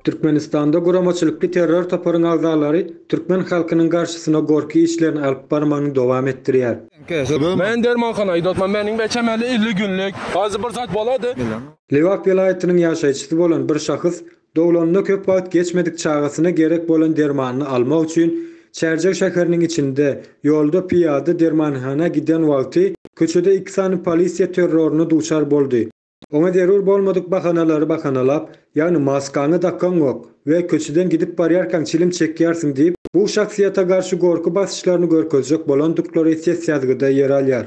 Türkmenistanda guramaçylykly terror toparyň agzalary türkmen halkynyň garşysyna gorky işlerini alyp barmagyny dowam etdirýär. Lebap welaýatynyň ýaşaýjysy bolan bir şahys Doglanyna köp wagt geçmedik çagasyna gerek bolan dermanyny almak üçin Çärjew şäheriniň içinde, ýolda pyýada dermanhana giden wagty köçede iki sany polisiýa terroryna duçar boldy. Oňa zerur bolmadyk bahanalary bahanalap, ýagny maskaňy dakaňok we köçeden gidip barýarkaň çilim çekýärsiň diýip, bu şahsyýete garşy gorky basyşlaryny görkezjek bolandyklary ses ýazgyda ýer alýar.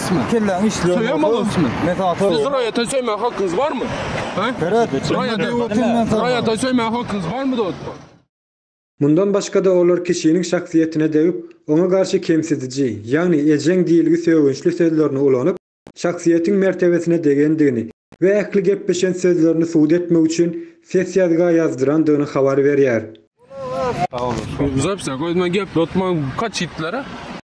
Ismi. Kelläňi işleýän. Söýem bolsun ismi. Men sana söýem. Siz raýata söýmäge hakyňyz barmy? He? Raýata, raýata söýmäge hakyňyz barmy dostum? Mundan başga-da olar kişiniň şahsyýetine degip, oňa garşy kemsidiji, ýagny ejeň diýilgi sögünçli sözlerini ulanyp, şahsyýetiň mertebesine degendigini we ähli gepleşen sözlerini subut etmek üçin ses ýazga ýazdyrandygyny habar berýär. Sag boluň. Zapisa goýma gepletme kaçitlara.